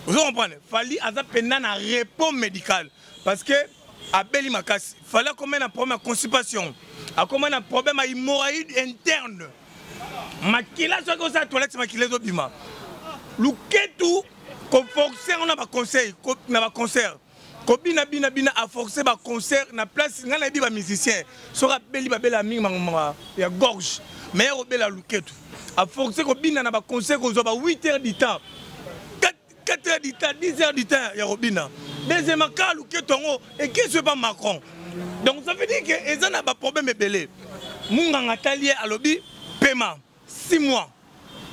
ozo comprendre fali aza mpenza na repos médical parce que abeli makasi fali akomai na problème ya constipation akomai na problème ya hemorraïde interne makila soki osala toilette makila ezobima luketu koforce yango na baconseil na baconcert kobina bina bina a forcer ba concert na place ngai nayebi ba musicien soki abeli babela mingi mangomba ya gorge me ya kobela luketu a forcer kobina na ba concert kozwa ba 8 heures du temps 4 heures du temps 10 heures du temps ya kobina deuxièmement kaka luketu yango ekisi epa macron donc ça veut dire que eza na baproblème ebele munganga atali ye alobi pema 6 mois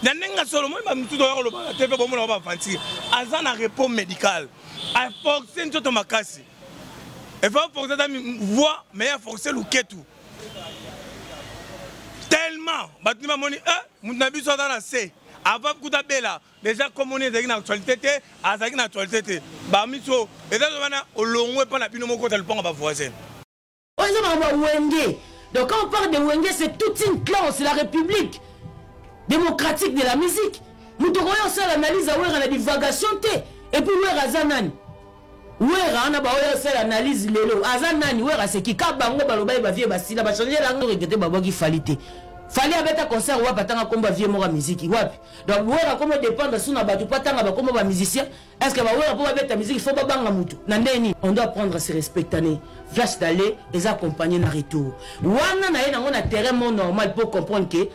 na ndenge ya solo moi bamisusu oya kolobaka te mpe bomona ba aventure aza na repos médical aforce nzoto makasi efa force ata voix mais aforce luketu tellement bato nde bamoni e eh, moto na biso aza na se avant kuta bela déjà komoni ezalaki na actualité te azalaki na actualité te bamiso eza wana olongwe mpo na bino mokota lopango bavoisin oyo eza makambo ya wenge donc quand on parle de wenge c'est toute une classe la république démocratique de la musique moto okoki osala analyse ya wera na divagation te epuis wera aza nani wera wana baoyo osala analyse lelo aza nani wera aseki ka bango baloba ye bavie basila bachange lango regete babwaki fali te fali abeta concert wapi atanga kombo ya vie moko ya miziki wapi donc wera komo dépendre su na bato mpo atanga bakombo bamusicien Est-ce que bawera mpo babeta miziki fo babanga motu na ndenge nini on doit apprendre à se respectane flash d'aller eza accompagné na retour wana na ye nango na terrain mo normal mpo comprendre ke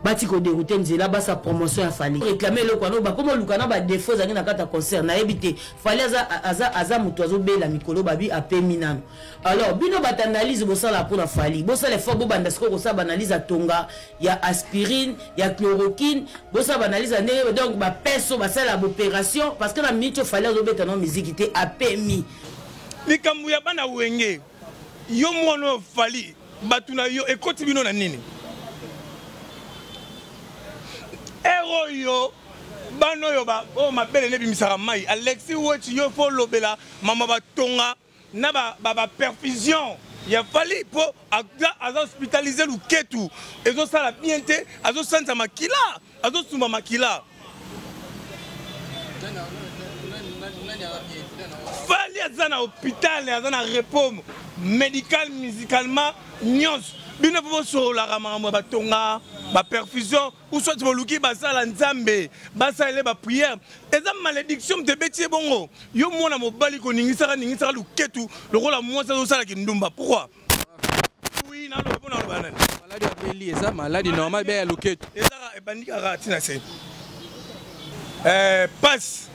bati koderoute nzela basa promotion ya fali réclame eloko wana bakoma oluka na badefaut ezangi na kati ya concert nayebi te fali aza, aza, aza moto azobela mikolo babi apemi nano alors bino bata analyse bosala mpo na fali bosala effort bobanda sikoyo kosala baanalyse atonga ya aspirine ya chloroquine bosala baanalyse ya ndenge donc bapeso basala baopération parce que na minute oyo fali azobeta na miziki te apemi likambo ya bana wenge yo mwana oyo fali bato na yo ekoti bino na nini ere oyo bana oyo oyo oh, mabele nebimisaka mai alexi weti yo fo olobela mama batonga na ba, ba, ba perfusion ya fali mpo aza hospitalize luketu ezosala bien te azosanza makila azosumba makila fali aza na hôpital aza na repos médical musicalement nyonso bino mpo bosololaka makambo ya batonga baperfusion ou soit boluki basala nzambe basalele baprière eza malédiction moto ebeti ye bongo yo mwana mobali koningisaka ningisaka luketu lokola mwasi azosala kindumba pourquoi oui naloba mpo naloba nani maladi ya beli eza maladi normal bea ya luketu ezaka ebandi kaka ntina se pasi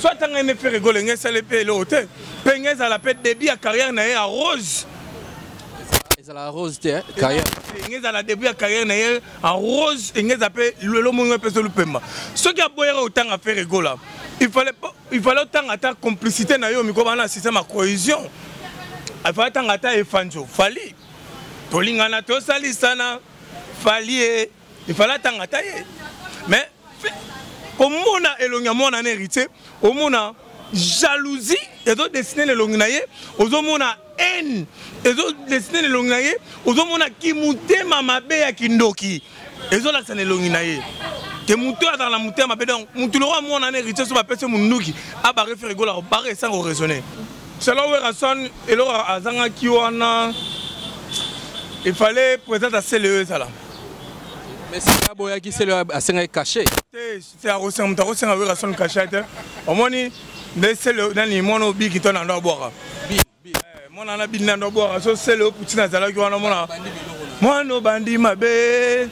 so atanga nde ferre gola enge esali mpe eloko te mpe enge ezala mpe début ya carrière na ye ya rose ezala rose te eh, carrière enge ezala début ya carrière na ye en rose enge eza mpe lelo mongo mpe so lupemba soki aboyaka otanga ferre gola il fallait il fallait otanga ata complicité na yo miko bana système ya cohésion il fallait otanga ata efanjo fali tolingana tosalisana falie il fallait atanga ata ye mais komona elongi ya mwana na héritier omona jalousie ezodesine na elongi na ye ozomona haine ezodesine na elongi na ye ozomona kimotema mabe ya kindoki ezolakisa na elongi na ye te moto oyo azala na motema mabe donc motu lokola mwana na héritier so bapesi monduki abare fere egola bare esanga oraisonne selon werason eloko azangaki wana il fallait présente asele oyo ezala mais sika aboyaki selo asengaki kashe te akosenga moto akosenga werrason kashe te omoni nde selo nani mwana obiki to nando abwaka mwana wana bini nando abwaka so selo putin azalaki wana mwana mwana obandi mabe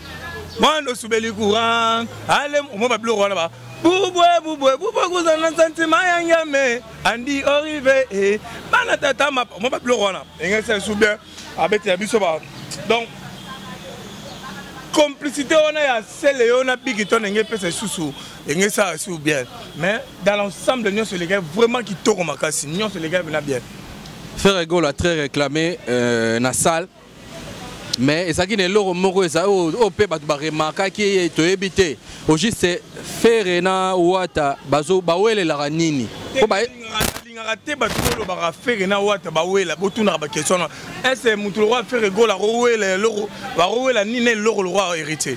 mwana osubeli courant ale omoi babiloko wana ba bubwe bubwe bubwe kuza na santima ya ngame andi orive e eh. bana tata mapa omoi babiloko wana engesa esu bien abetela biso ba donc complicité wana ya sele yo na bigi to ndenge epesa lisusu ndenge esala lisusu bien mais dans l'ensemble nyonso elekaki vraiment kitoko makasi nyonso elekaki mpena bien frère egolo a très réclamé euh, na salle mais ezalaki na eloko moko eza oyo oh, oh, mpe bato baremarkaki ye toyebi te au juste fere na wata bawelelaka nini Lingaka te bato bolobaka fere na wata bawela botunaka bakestion na ese motu lokwa fere gola akowela eloko bakowela nini na eloko lokwa héritier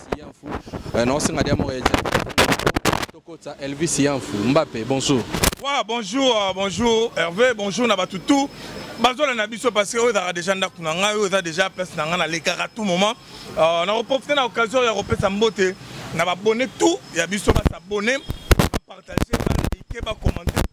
Euh, naosenga dia moko ya tokotisa elvis yanfu mbape bonjour wa bonjour euh, bonjour herve bonjour na bato tout bazola na biso parce que oyo ezalaka déjà ndako na ngai oyo eza déjà place na ngai nalekaka tout moment euh, nakoprofite na occasion ya kopesa mbote na babone tout ya biso basabone bapartage balike bacommante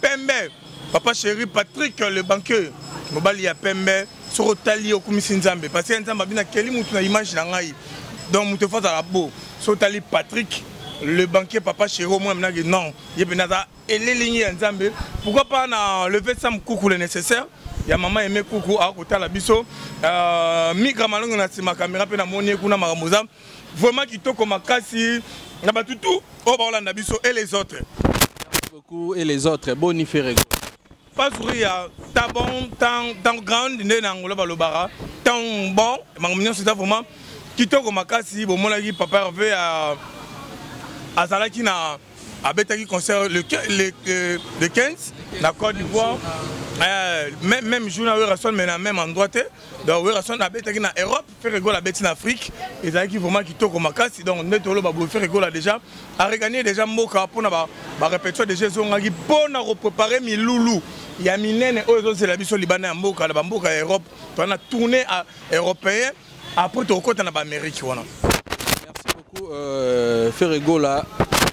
pembe papa chéri patrick le banqueux mobali ya pembe soki otali okumisi nzambe parce que nzambe abina keli motu na image na ngai donc moto efo azala bo soki otali patrick le banquier papa chéri omoi minaki non ye mpenza aza elelingi ya nzambe pourquoi pas na leve sam kuku le nécessaire ya mama aime kuku akotala biso euh, migra malongo na nsima kamera mpe namoni ye kuna makambo eza Vraiment kitoko makasi na batu tout oyo baolanda biso et les autres. Merci beaucoup et les autres boni ferego. Pazuri ya tabon tang tang grand nde na ngolo balobara tang bon makambo nyonso eza vraiment kitoko makasi bomonaki papa Hervé a azalaki na abetaki concert le, le, le, le 15 na Côte d'Ivoire euh, même, même jour na Werrason mais na même endroit te donc Werrason abetaki na Europe Ferre Gola abeti na Afrique ezalaki vraiment kitoko makasi donc nde toloba boye Ferre Gola déjà areganie déjà mboka mpona barepetition déjà ezongaki mpona koprepare milulu ya minene oyo ezozela biso libanda ya mboka na bamboka ya europe toana tourne européen après tokokɔta na baamérique wana merci beaucoup Euh, Ferre Gola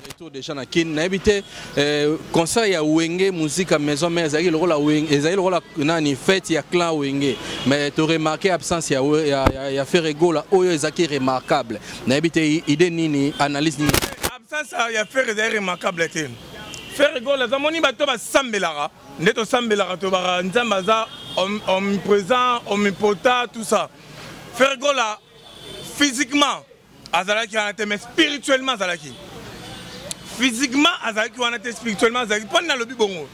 retour déjà na Kin nayebi te euh, concert ya Wenge musique à maison mère ezalaki lokola Wenge ezalaki lokola nani fête ya clan Wenge mais to remarquer absence ya ya, ya, ya Ferre Gola oyo ezalaki remarquable nayebi te idée nini analyse nini absence ya Ferre ezalaki remarquable te Ferre Gola za moni bato basambelaka nde tosambelaka tobaka nzambe aza omniprésent omnipotent tout ça Ferre Gola physiquement azalaki wana te mais spirituellement azalaki physiquement azalaki wana te spirituellement azalaki mpo nalobi bongo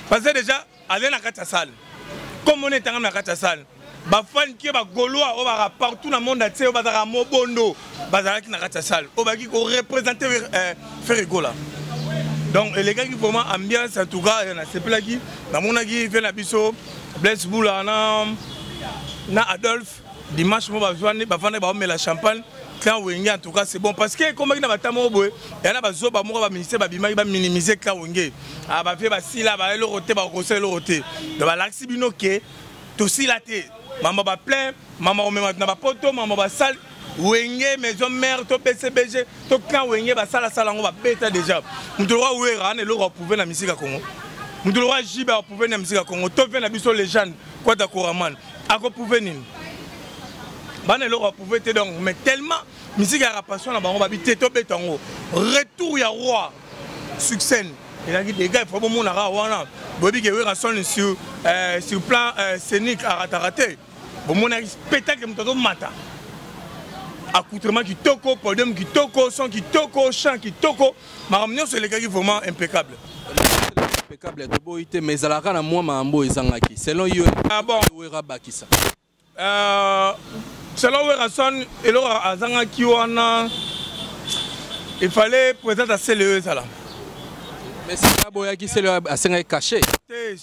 parce que déjà azali na kati ya sale comme ona etangami na kati ya sale bafani ke bagolois oyo baka partout na monde atie oyo bazalaka mobondo bazalaki na kati ya salle oyo baki korepresente eh, ferre gola donc elekaki vraiment ambiance en tout cas eh, nasepelaki namonaki fe na biso blaise bula na, na adolphe dimanche mo bavandi baomela champagne clan wenge en tout cas c'est bon parce que ekomaki na bata moko boye ya na bazoba moko baministère babimaki baminimize clan wenge ah, bavie basila baeloko te bakokosala eloko te donc balakisi bino ke tosila te mama baplein mama komema na bapoto mama basale wenge maison mère to bcbg to clan wenge basalasala yango babeta déjà moto lokola wera ana eloko aprouve na misika congo moto lokola jibe aprouve na misika congo to mpe na biso legende kwata koraman akoprouve nini bana eloko aprouve te donc mais tellement misika ya rapassion na bango babi te tobeta yango retour ya roi succès ezalaki dega ifo bomonaka wana boyebi ke wera son sur, euh, sur plan euh, scénique arataka te bomonaki spectacle moto azomata accoutrement kitoko podium kitoko son kitoko chant kitoko makambo nyonso elekaki vraiment impeccable impeccable toboyi te mais ezalaka na mwa makambo ezangaki selon yo ah bon wera bakisa euh, selon werason eloko azangaki wana il fallait présente asele oyo ezala mais sika aboyaki sele asengaki cache te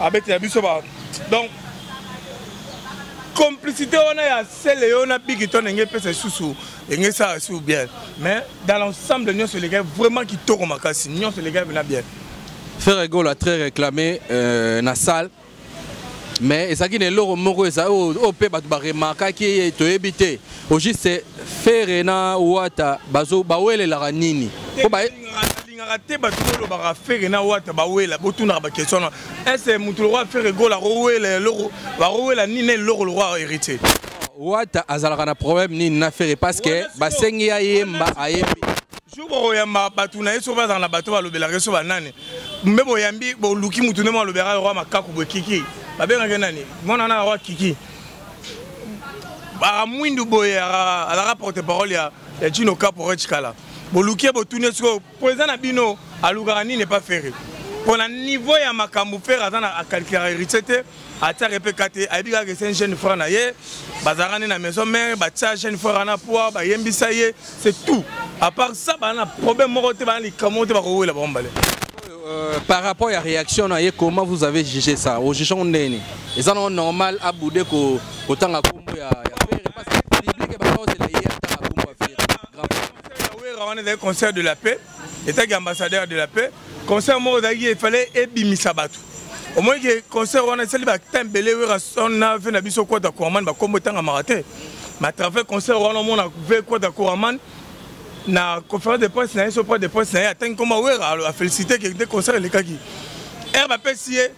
abetela biso ba donc complicité wana ya sele yo na bigiton enge epesa lisusu enge esala lisusu bien mais dans l'ensemble nyonso elekaki vraiment kitoko makasi nyonso elekaki mpena bien ferre gola très réclamé euh, na salle mais ezalaki na eloko moko eza oyo mpe bato baremarkaki ye toyebi te au juste ferre na wata bawelelaka nini Lingaka te bato bolobaka fere na wata bawela botunaka bakestion na ese moto lokwa fere gola akowela eloko bakowela nini na eloko lokwa héritier wata azalaka na problème nini na fere parce que basengi ya yemba ayembi jour bokoyamba bato na ye soki bazala na bato balobelaka ye so banani mbe boyambi boluki motu nde malobelaka lokwa makaku boye kiki babengaki nani mwana na lokwa kiki aka mwindu boye alaka porte parole ya chino kapo rechikala boluki botuni sikoyo president na bino alukaka nini epa fere mpo na niveau ya makambo fere aza na akalkulaka héritier te atiaka mpe ka te ayebi kaka ese jeune frère na ye bazalaka nde na maison mare batia jeune frère ana poi bayembisa ye c'est tout à part ça baa na problème moko te baa na likambo moko te bakowela bango mbale Euh, par rapport ya réaction na ye comment vous avez jugé ça ojuge yango ndenge nini eza nango normal abude kotanga nkombo ya wera wana ezali concert de la paix etaki ambassadeur de la paix concert moko ezalaki efale ebimisa bato omoni ke concert wana esali batin ebele wera sona ve na biso kwata koraman bakombo etangamaka te ma travers concert wana omona ve kwata koraman na conférence de presse na ye so près de presse na ye atangi nkoma wera afélicité ke nde concert elekaki ere bapesi ye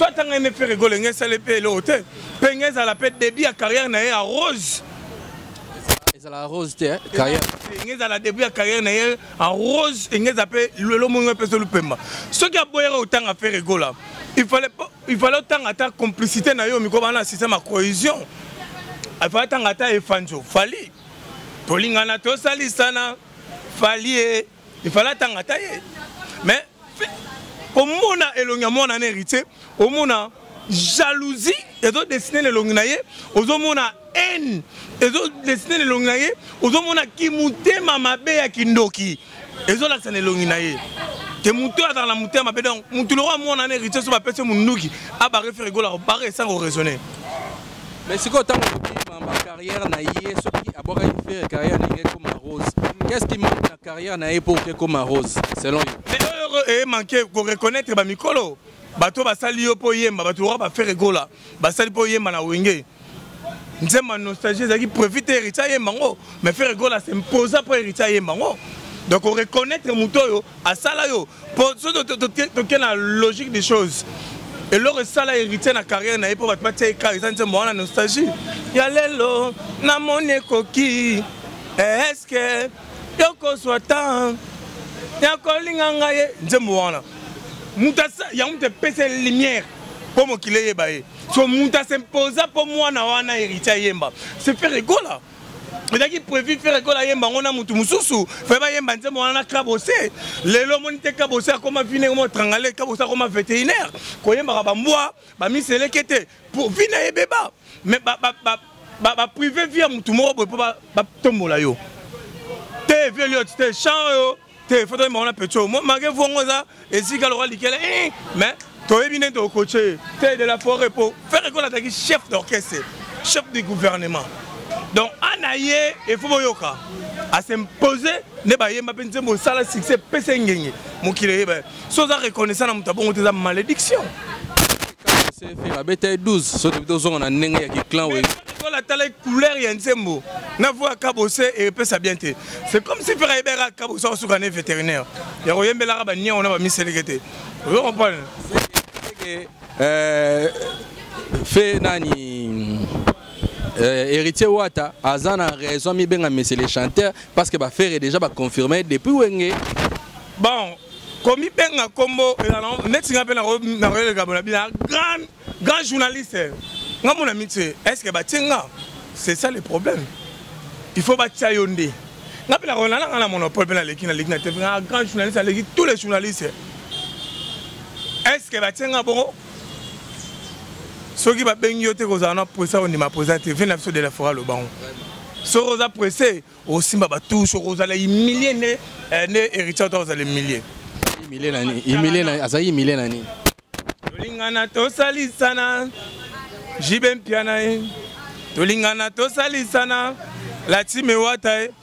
so atanga ye ne fere gole nge esali mpe eloko te mpe nge ezala mpe debut ya carrière na ye ya rose ezala rose te eh, carrière nge ezala debut ya carrière na ye en rose nge eza mpe lelo mongo epesa lupemba soki aboyaka kotanga fere gola il fallait il fallait otanga ata complicité na yo miko bana système ya cohésion il fallait otanga ata efanjo fali tolingana tosalisana fali ye il fallait atanga ata ye mais komona elongi ya mwana na héritier omona jalousie ezodesine na elongi na ye ozomona haine ezo dessiner na elongi na ye ozomona kimotema mabe ya kindoki ezolakisa na elongi na ye te moto oyo azala na motema mabe donc motu lokola mwana na héritier so bapesi ye monduki abare fere egola bare esango oraisonne mais sikoyo ntango obima ba carrière na ye soki abwakaki fere carrière na ye ekoma rose qu'est ce qui manque na carrière na ye mpo oke ekoma rose selon yo mais oyo emanke koreconnaitre bamikolo bato basali yo mpo oyemba bato lokola bafere egola basali mpo oyemba na wenge nzemba nostalgie ezalaki prévu te héritier ayemba yango mais frère egola s'imposa mpo héritier ayemba yango donc oreconnaitre moto oyo asala yo mpo soki toke na logique des choses eloko esala héritier na carrière na ye mpo bato batia eka eza nzembo wana nostalgie ya lelo namoni ekoki eske tokozwa temps ya kolinga ngai ye nzembo wana moto yango moto epesa lumière mpo mokili eyeba ye so moto asimposa mpo mwana wana héritier ayemba se faire egola ezalaki prévu faire ekola yemba yango na motu mosusu fe bayemba nzembo wana na kabose lelo omoni te kabose akoma vine koma trangale kabose akoma vétérinaire koyembaka bambwa bamiseleke te po vie na ebeba mais ba ba ba ba, ba privé vie ya mutu moko boye po ba, ba tombola yo te vie liot te chant yo te foto ma wana pecho moi mage vongo eza esika lokola likela eh, mais toyebi nde tokoche te de la forêt po faire qu'on attaque chef d'orchestre chef du gouvernement donc ana ye efo boyoka asimpoze nde bayemba mpe nzembo osala succès pesa engenge mokili eyeba si oza reconnaissant na moto ya bongo te eza malédiction babeta ye 12 soki tobi tozonga na ndenge ya kiclan oyo lokola atala couleur ya nzembo na voi ya kabose epesa bien te c'est comme si fera yebeka kabose akosuka ne vétérinaire ya koyembelaka baniango na bamiseleke te ozo comprendre euh, fe nani Euh, héritier Wata aza na raison mibenga monsieur le chanteur parce que ba ferre déjà ba confirmer depuis wenge bon komi benga kombo euh, neti nga pe na na rele gabo na bina grand grand journaliste nga mona mitie est ce que ba tinga c'est ça le problème il faut ba tia yonde nga pe na rona na na monopole pe na leki na leki na te grand journaliste aleki tous les journalistes est ce que ba tinga bongo soki babengi yo te kozala na presse ondima presse te vie na biso de la fora lobango soki oza presse osimba batouche okozala humilie nde eh, nde héritier ota kozala humilie azali humilie na nini tolingana tosalisana jibe mpiana ye tolingana tosalisana latime wata ye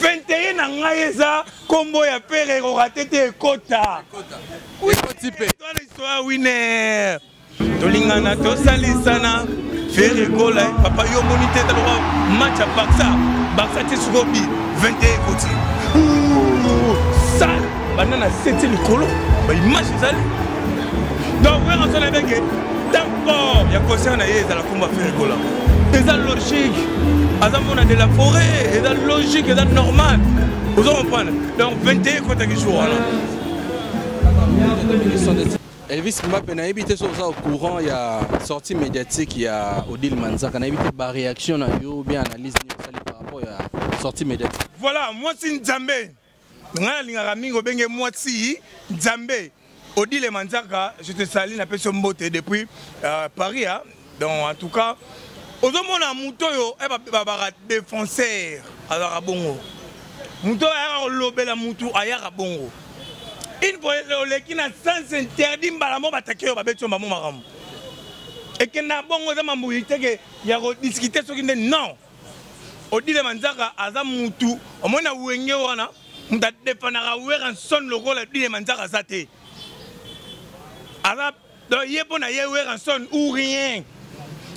21 na ngai eza kombo ya pere rorate te ekota ekoti mpe toa winer tolingana tosalisana fere kola papa yo omoni te taloba match ya barça barça te sikoyo bi 21 ekoti sale banda na seti likolo baimage ezali donc werasona ebenge Corps ya concert na ye ezala kumba Ferre Gola. Eza logique. Aza mona de la forêt, eza logique, eza normal. Vous comprenez Donc 21 contre qui joue alors. Elvis Mbappé nayebi te soki oza au courant ya sortie médiatique ya Odile Manzaka nayebi te ba réaction na yo bien analyse nini osali par rapport ya sortie médiatique. Voilà, moi c'est Nzambe. ngai nalingaka mingi obenge mwasi nzambe odile manzaka je te sali napesi yo mbote depuis euh, paris a donc en tout cas ozomona moto oyo eh, babaka défenseur azalaka bongo moto oyo ayaka kolobela motu ayaka bongo une fois oleki na sens interdit mbala mo batake oyo babeti yo mbamo makambo ekenda bongo eza mambo iteke ya kodiskute soki nde non odile manzaka aza mutu omoni na wenge wana moto adepanaka weranson lokola odile manzaka aza te aza donc ye mpo na ye weranson ou rien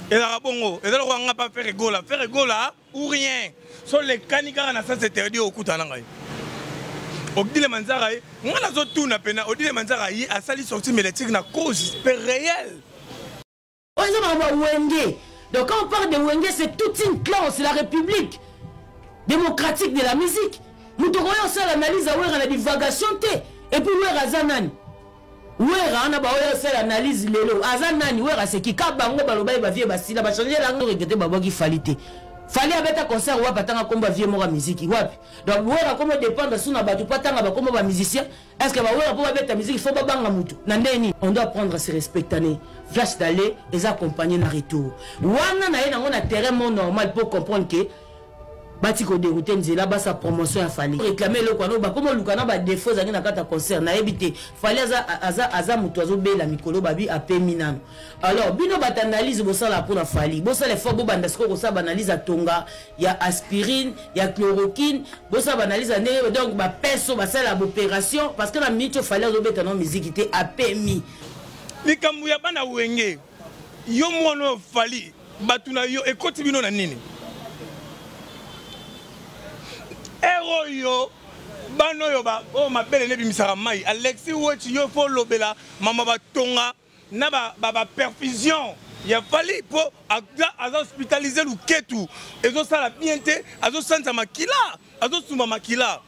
ezalaka bongo eza lokola nga mpa fere gola fere gola ou rien so lekani kaka na sens interdit okutana ngai odile manzaka ye ngai nazotuna mpena odile manzaka ye asali sorti médiatique na cause mpe réel oyo eza makambo ya wenge donc quand on parle de wenge c'est toute une classe la république démocratique de la musique moto okoya osala analyse ya wera na divagation te epuis wera aza nani wera wana baoya osala analyse lelo aza nani wera aseki ka bango baloba ye bavie basila bachange yango regete babwaki fali te fali abeta concert wapi atanga kombo ya vie moko ya miziki wapi donc wera komo dépendre su na bato mpo atanga bakombo bamusicien Est-ce que bawela mpo babeta miziki fo babanga motu na ndenge nini on doit apprendre à se respectane flash d'aller eza accompagné na retour wana na ye nango na terrain mo normal mpo comprendre ke bati koderoute nzela basa promotion ya fali réclame eloko wana bakoma oluka na badefo ezangi na kati ya concert nayebi te fali aza, aza, aza moto azobela mikolo babi apemi nano alors bino bata analyse bosala mpo na fali bosala effort bobanda sikoyo kosala baanalyse atonga ya aspirine ya chloroquine bosala baanalyse ya ndenge donc bapeso basala baopération parce que na minute oyo fali azobeta na miziki te apemi likambo ya bana wenge yo mwana oyo fali bato na yo ekoti bino na nini ere oyo bana oyo oyo oh, mabele nebimisaka mai alexi weti yo fo olobela mama batonga na ba, ba, ba perfusion ya fali mpo aza hospitalize luketu ezosala bien te azosanza makila azosumba makila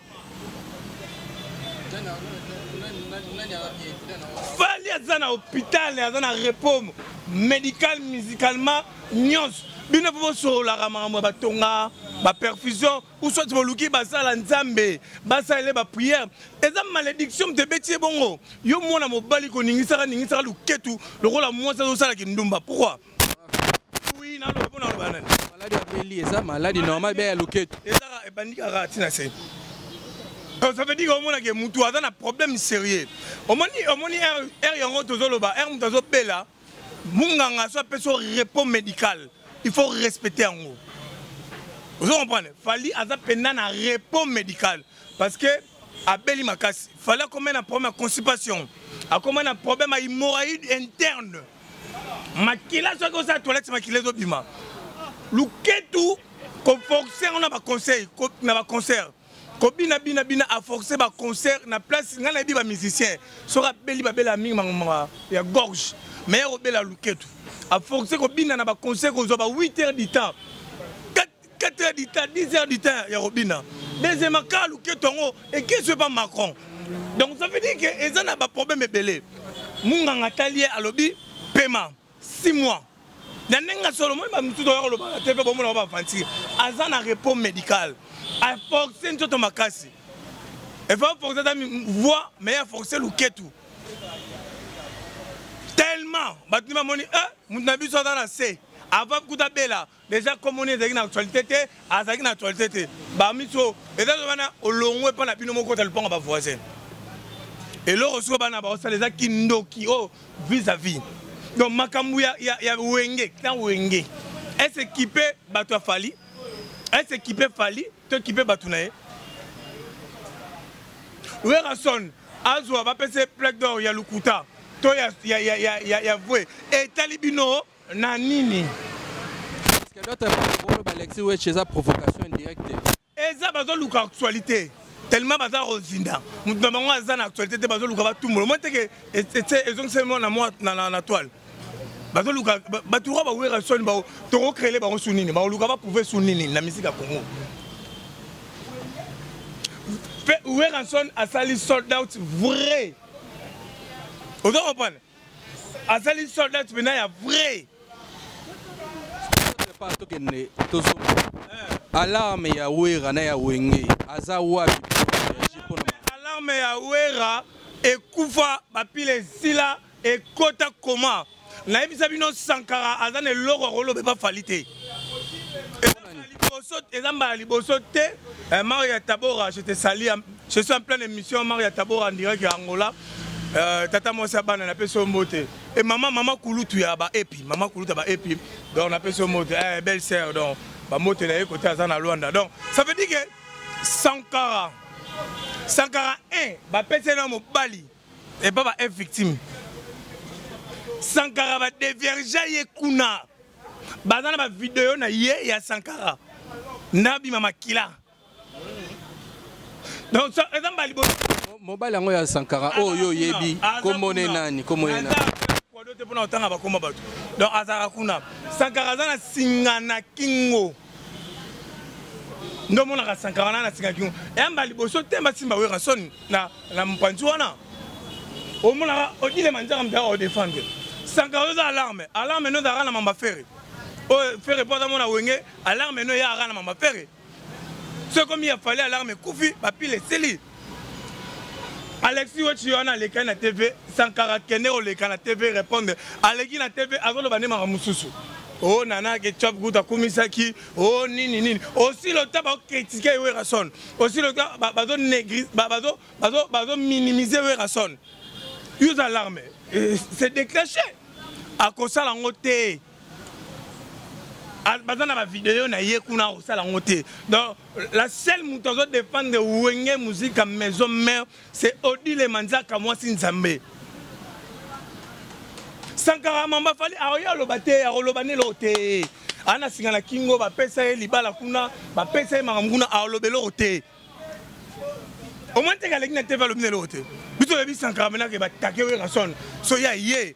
fali aza na hôpital aza na repos médical musicalement nyonso bino mpo bosololaka makambo ya batonga baperfusion ou soit boluki basala nzambe basalele baprière eza malédiction moto ebeti ye bongo yo mwana mobali koningisaka ningisaka luketu lokola mwasi azosala kindumba pourquoi oui naloba mpo naloba nani maladi abeli eza maladi normal be ya luketu ezaka ebandi kaka ntina se euh, ça veut dire omonake motu aza na problème sérieux omoni omoni r yango tozoloba r moto azobela munganga so apesi yo repos médical il faut respecter yango ozo comprendre fali aza mpenza na repos médical parce que abeli makasi fali akomai na problème ya constipation akomai na problème ya hemorraïde interne makila soki osala toilette makila ezobima luketu koforce yango na baconseil na baconcert kobina bina bina a forcer ba concert na place ngai nayebi ba musicien soki abeli babela mingi mangomba ya gorge mais ya kobela luketu a forcer kobina na ba concert kozwa ba 8 heures du temps 4 heures du temps 10 heures du temps ya kobina deuxièmement kaka luketu yango ekisi epa macron donc ça veut dire que eza na baproblème ebele munganga atali ye alobi pema 6 mois na ndenge ya solo moi bamisusu oya kolobaka te mpe bomona ba bavantir aza na repos médical aforce nzoto makasi efa force ata voix mais ya force luketu tellement bato nde bamoni e eh, moto na biso aza na se avant kuta bela deja nkombo nini ezalaki na actualité te azalaki na actualité te bamiso eza wana olongwe mpo na bino moko kota lopango bavoisin eloko soko bana baosala eza kindoki oyo oh, vis à vis donc makambo ya, ya, ya wenge na wenge ese kipe bato ya fali ese kipe fali to kipe bato na ye werrason azwa bapesa ye plaque d'or ya lokuta to ya, ya, ya, ya, ya, ya vue etali bino Na nini? Parce que d'autres parole ba Alexis Wetch eza provocation indirecte. Eza bazo luka actualité. tellement baza kozinda moto na bango aza na actualité te bazoluka batumbola omoi teke ezongiseli mwa na toile bazoluka bato oyo bawera soni tokocrele bango su nini bakoluka baprouve su nini na misika congo mpe werrason asali sold out vrai oza comprendre azali soldat mpena ya vrai tokende tozonga eh. alarme ya wera na ya wenge aza wapi alarme ya wera ekufa bapile esila ekota koma nayebisa bino sankara aza na eloko akoloba epa fali te eza mbala liboso te eh, mario ya tabora je te salia Je suis en pleine émission Maria Tabora en direct ya Angola. Euh, tata mwasi ya bana napesi yo mbote e mama mama kulutu ya baepi mama kulutu ya baepi donc napesi yo mbote eh, belle sœur donc bambote na ye kote aza na lwanda donc ça veut dire que sankara sankara 1 bapesi ye na mobali epa ba victime sankara badeviergea ye kuna baza na bavideo na ye ya sankara nabima makila donc eza mbala liboso mobali yango ya sankara oyo oh, yo oyebi kombo ne nani kombo ne nani kwado te mpona kotanga bakoma bato donc azalaka kuna sankara aza na singa na kingo nde omonaka sankara wana na singa kingo ya mbala liboso te basimba wera soni na, na mopanzi wana omonaka odilema nzaka mzaka odefendre sankara oza alarme alarme nozalaka na mamba fere oyo oh, fere mpo aza mona wenge alarme eno eya aka na mama pere soki ekomi ya fali alarme ekufi bapile esili alexi wetshi wana alekani na tv sankara kende koleka na tv répondre aleki na tv azoloba nde makambo mosusu o oh, nana ketchup gout akumisaki o oh, nini nini osi lota bakokritike werason osi lota bazominimize werason use alarme eh, se déclenche akosala yango te Ah, baza na bavideo na ye kuna akosala yango te donc la seule moto azo dépendre wenge musika maison mère c'est odile manzaka mwasi nzambe sankara mamba fali aoye ah, aloba te akoloba nde eloko te ana singa na kingo bapesa ye libala kuna bapesa ye makambo kuna aloba eloko te omoi nteke aleki na tv alobi na eloko te biso oyebi sankara menake batake werasone so ya ye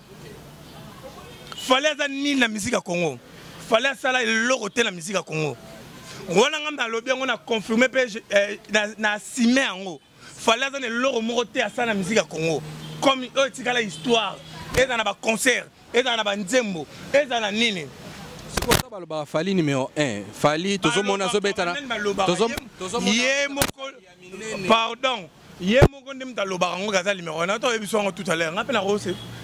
fale aza nini na miziki ya congo fale asala eloko te na miziki ya congo wana ngai nalobi yango na confirme mpe eh, na asime yango fale aza na eloko moko te asala na miziki ya congo comme oyo etikala histoire ezala na baconcert ezala na banzembo ezala na nini sikoyo balobaka fali numero 1 fali tozomona azobetana ye moko pardon ye moko nde moto alobaka yango kaza numéro 1 nato oyebi swango tout à l'heure nga mpe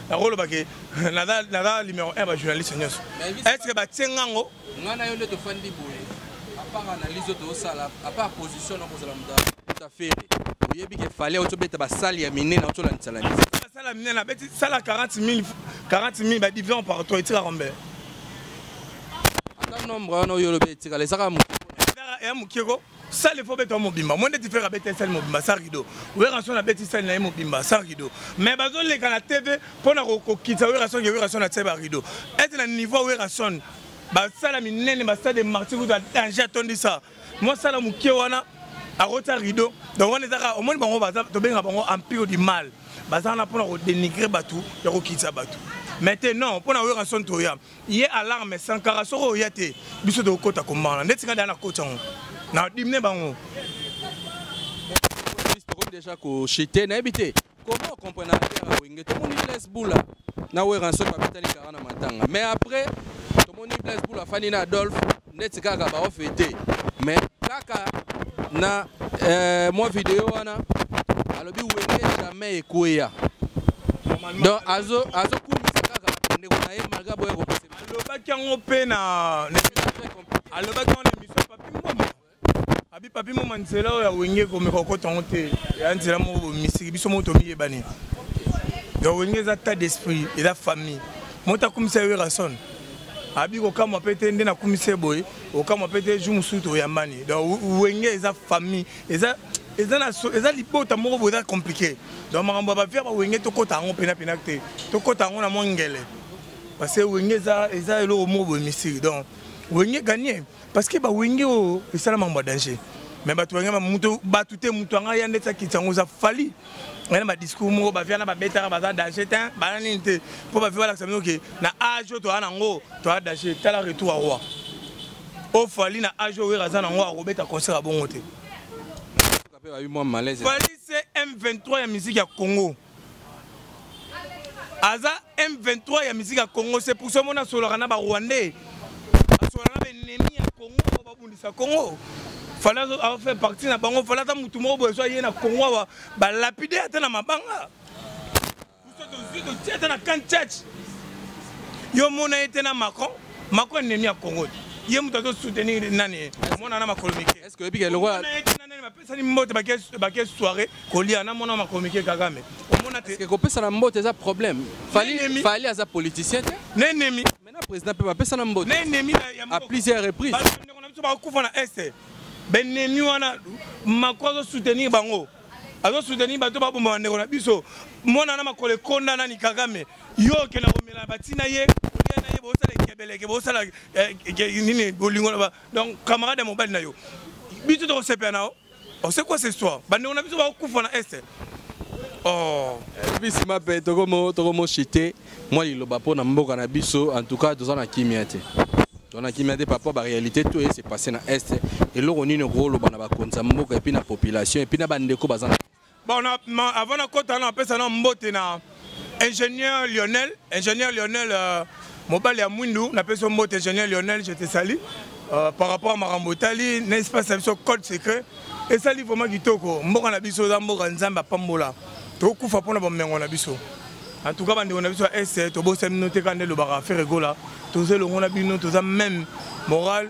nakoloba ke naza numéro 1 bajournaliste nyonso estce batie nga yango nga na yo nde tofandi boye apart analyse oyo tozosala apart position nakozala moto afere oyebi ke fale otobeta basali ya minene otolandisalanisa basala minene abeti sala 40 000 40 000 badivision partout etikaka mbele ata nombre wana oyo olobi etikala ezaka moke ya moke ko sale fo obeta mobimba mo ndeti fere abeta esali mobimba sa rido werason abeti sali na ye mobimba sa rido mais bazoleka na tv mpo na kokokitisa werason ke werason atie ba rido ete na niveau werason basala minene basade marti kuta danger atondisa mosala moke wana akotia rido donc wana ezaka omoni bango tobenga bango empire du mal baza wana mpo na kodenigre bato ya kokitisa bato mais te non mpo na werason toya ye alarme sankara soki oya te biso tokokota kombana ndeti nga da na koti yango na dimine bango tokomi deja koshite nayebi te comment okomprena ya wenge tomoni blaise bula na weranso babetani kara na matanga mais après tomoni blaise bula afandi na adolphe neti kaka ba off ete mais kaka na euh, mwa video wana alobi wenge jamais ekweya donc azo azo kumisa kaka ndeko na ye malgré boye ko pese alobaki yango pe na alobaki yango na emission papi mbombo abi papi mbombo nzela oyo ya wenge ekomeka okota yango te ya nzela moko bomisiki biso moko tomiyebani donc wenge eza tas d'esprit eza famille moto akumisa ye werrason abi kokamwa mpe te nde nakumisi ye boye okamwa mpe te jour mosusu toyambani donc wenge eza famille eza eza na so eza libota moko boye eza compliqué donc makambo ya bavia bawenge tokɔta yango mpenapena te tokɔta yango na mwa ngele parce que wenge eza eza eloko moko boye misiri donc wenge gagne parce que bawenge oyo esala makambo ya danger mais bato yango moto bato te moto yanga ya ndeti akiti yango oza fali ena ba discours moko ba viana ba betaka baza danger tin bana nini te mpo ba viva lakisa bino ke na age oyo toza nango toza danger tala retour ya roi o fali na age oyo wera aza nango akobeta concert ya bongo te fali se m23 ya musique ya congo aza M23 ya musique ya Congo c'est pour ça mon asolaka na ba rwandais asolaka na ennemi ya Congo babundisa Congo fala a fait partie na bango fala ta mutu moko bozo ye na Congo awa ba lapider ata na mabanga ata na kan church yo mona ye te na Macron Macron ennemi ya Congo ye mutu azo soutenir nani mona na makolo mike est-ce que oyebi ke lokola pesani mbote bake soirée kolia na mwana makomike kagame omona te kopesana mbote eza problème fali aza politicien te na ennemi maintenant président mpe bapesana mbote na ennemi à plusieurs reprises bandeko na biso bakufa na este baennemi wana mako azosoutenir bango azosoutenir bato babomba bandeko na biso mwana na makolo ekonda nani kagame yo okenda komela batina ye kolia na ye bosala ekebeleke bosala eh, nini bolingo donc camarade ya mobali na yo biso tokosepela na yo oh, c'est quoi cette histoire bandeko na biso bakokufa na este oh. ebi nsima mpe tokomoshite mwa liloba mpo na mboka na biso en tout cas toza na kimia te toza na kimia te papa baréalité to eye se passe na este eloko nini okoloba na bakonzi ya mboka epuis na population epuis na bandeko baza na Bon, avant na kota na pesa na mbote na ingénieur Lionel, ingénieur Lionel euh, mobali ya mwindu na pesa mbote ingénieur Lionel, je te salue. Euh, par rapport à makambo etali na espace ya biso code secret esali vraiment kitoko mboka na biso eza mboka nzambe apambola tokufa mpona bomengo na biso en tout cas bandeko na biso ya est tobosani bino te kaka nde elobaka ferre gola toza elongo na bino toza même morale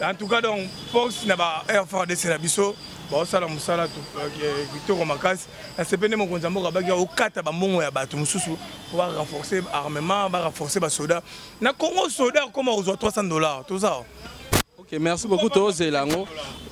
En tout cas donc force na ba FRDC na biso baosala mosala euh, kitoko makasi na sepe nde mokonzi ya mboka baki okata bambongo ya bato mosusu mpo barenforce armement barenforce basoda na congo soda akoma kozwa 300 dollars toza ok merci beaucoup tozela yango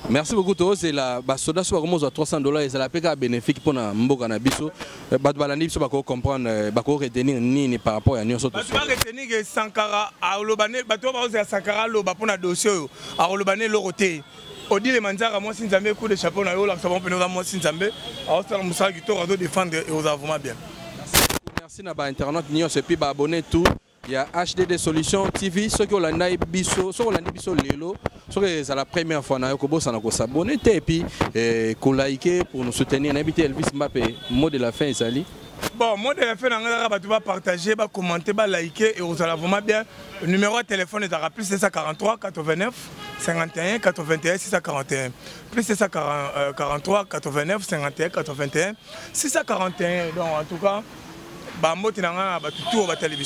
merci beaucoup tozela basoda so bakoma kozwa 300 dollars ezala mpe kaka bénéfique mpo na mboka na biso Eh, bato balandi biso bakoki comprendre eh, bakoki retenir nini par rapport ya nyonso bato baretenir ke sankara aloba ne bato oyo bakozela sankara aloba mpo na dossier oyo akoloba ne eloko te odile manzaka mwasi nzambe coup de chapeau na yo olakisa bango mpene oza mwasi nzambe aosala mosala kitoko azodefendre eoza vraiment bien merci na bainternaute nyonso epuis baabonne tout ya hdd solution tv soki olandai biso soki olandi biso lelo soki ezala première fois na yo kobosana kosabone te epuis eh, kolaike pour nous soutenir nayebi te elvis mbape mot de la fin ezali bon mot de la fin na ngai kaka bato bapartage bacommente balaike ekozala vraiment bien numéro ya telefone ezalaka plus 243 89 51 81 641 plus 243 89 51 81 641 donc en tout cas bambote na ngai na bato tour batali biso